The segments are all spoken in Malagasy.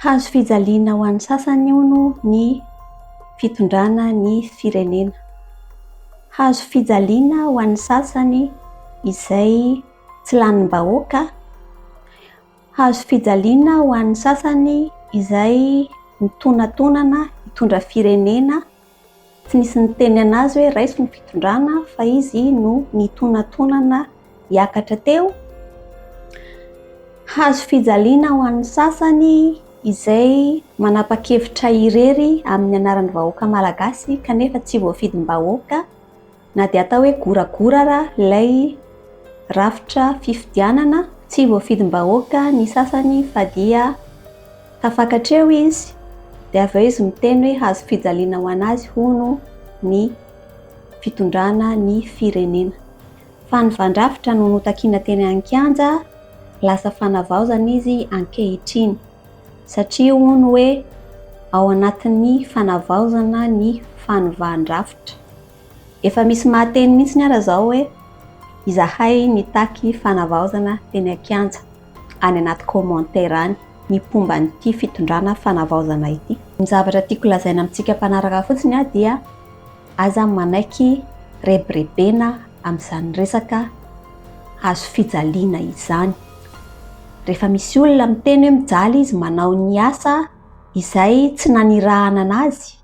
Hazo fijaliana ho an'ny sasany hono ny fitondrana ny firenena. Hazo fijaliana ho an'ny sasany izay tsy lanim-bahoaka. Hazo fijaliana ho an'ny sasany izay mitonatonana hitondra firenena. Tsy nisy niteny an'azy hoe raiso ny fitondrana fa izy no nitonatonana hiakatra teo. Hazo fijaliana ho an'ny sasany izay manapa-kevitra irery amin'ny anaran'ny vahoaka malagasy kanefa tsy voafidim-bahoaka. Na dia atao hoe goragora ara ilay rafitra fifidianana, tsy voafidim-bahoaka ny sasany fa dia tafakatra eo izy, dia avy eo izy miteny hoe hazo fijaliana ho an'azy hono ny fitondrana ny firenena. Fa ny vandrafitra no notakiana teny an-kianja lasa fanavaozana izy ankehitriny, satria hono hoe ao anatin'ny fanavaozana ny fanovandrafitra. Efa misy mahateny mihitsy ara zao hoe izahay nitaky fanavaozana teny an-kianja, any anaty commentaire any, ny mpomba an'ity fitondrana fanavaozana ity. Ny zavatra tiako lazaina amintsika mpanaraka fotsiny aho dia aza manaiky rebirebena amin'izany resaka hazo fijaliana izany. Rehefa misy olona miteny hoe mijaly izy manao ny asa izay tsy nanirahana anazy,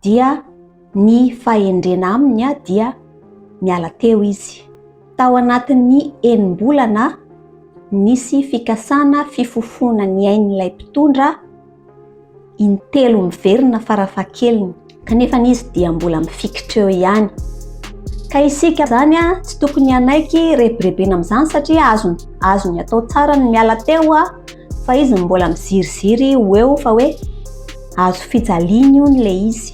dia ny fahendrena aminy dia niala teo izy. Tao anatin'ny enim-bolana nisy fikasana fifofoana ny ain'ilay mpitondra intelo miverina farafahakeliny. Kanefa izy dia mbola mifikitra eo ihany. Ka isika izany tsy tokony hanaiky rebirebena amin'izany satria azony, azony atao tsara ny miala teo fa izy no mbola miziriziry ho eo fa hoe azo fijaliana io ny le izy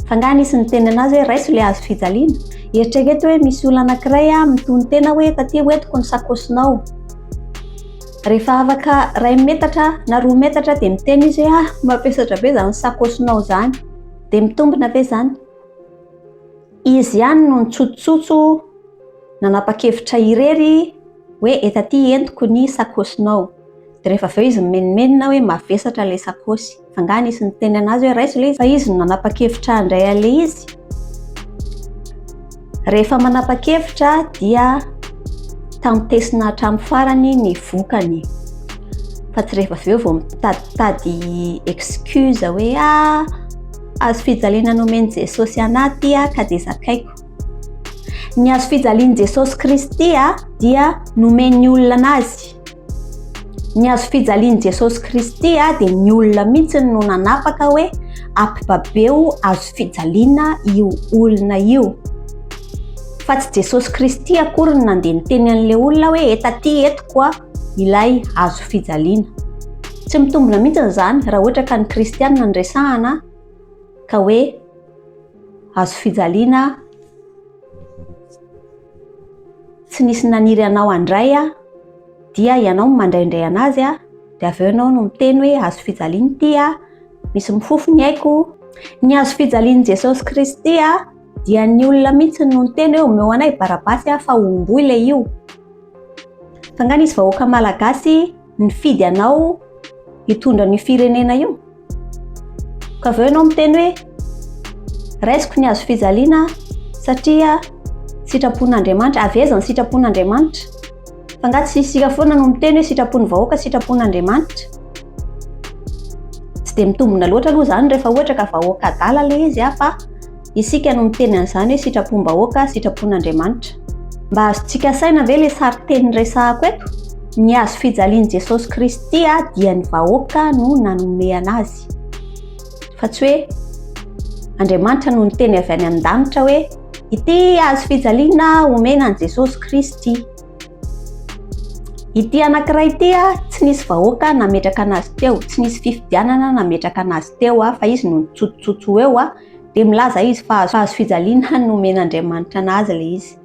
fa nga nisy ny teny anazy hoe raiso le azo fijaliana eritrereto hoe misy olona anakiray a mitony tena hoe taty ho etiko ny sakosinao rehefa afaka ray metatra na roa metatra dia miteny izy hoe ah mampiasatra be zany sakosinao zany dia mitombina ve zany izy ihany no nitsototsotso nanapa-kevitra irery hoe eto aty entiko ny sakaosinao, dia rehefa avy eo izy mimenomenona hoe mavesatra ilay sakaosy, f'angaha nisy niteny an'azy hoe raiso ilay izy? Fa izy no nanapa-kevitra handray an'ilay izy. Rehefa manapa-kevitra dia tantesina hatramin'ny farany ny vokany, fa tsy rehefa avy eo vao mitaditady excuse hoe ah azo fijaliana nomen'i Jesosy anah ity ah ka dia zakaiko. Ny hazo fijalian'i Jesosy Kristy dia nomen'ny olona azy. Ny hazo fijalian'i Jesosy Kristy dia ny olona mihitsy no nanapaka hoe ampibabeo hazo fijaliana io olona io. Fa tsy Jesosy Kristy akory no nandeha niteny an'ilay olona hoe etaty etiko ilay hazo fijaliana. Tsy mitombina mihitsy izany raha ohatra ka ny kristianina no resahana ka hoe Hazo fijaliana aho. Tsy nisy naniry anao handray aho. Dia ianao no mandraindray anazy aho. Dia avy eo ianao no miteny hoe hazo fijaliana ity aho. Misy mifofo ny aiko. Ny hazo fijalian'i Jesosy Kristy aho. Dia ny olona mihitsy no niteny hoe omeo anay Barabasy aho fa homboy ilay io. Fa nga nisy vahoaka malagasy. nifidy anao hitondra an'io firenena io ka avy eo ianao miteny hoe raisiko ny hazo fijaliana satria sitrapon'Andriamanitra avy aiza ny sitrapon'Andriamanitra fa nga tsy isika foana no miteny hoe sitrapon'ny vahoaka sitrapon'Andriamanitra tsy dia mitombina loatra aloha izany rehefa ohatra ka vahoaka adala ilay izy afa Isika no miteny an'izany hoe sitrapom-bahoaka, sitrapon'Andriamanitra. Mba azontsika saina ve ilay sarinteny resahako eto? Ny hazo fijalian'i Jesosy Kristy dia ny vahoaka no nanomehana azy. Fa tsy hoe Andriamanitra no niteny avy any amin-danitra hoe ity hazo fijaliana omena an'i Jesosy Kristy. Ity anankiray ity tsy nisy vahoaka nametraka anazy teo, tsy nisy fifidianana nametraka anazy teo fa izy no nitsotsotso eo dia milaza izy fa hazo fijaliana nomen'Andriamanitra anazy ilay izy.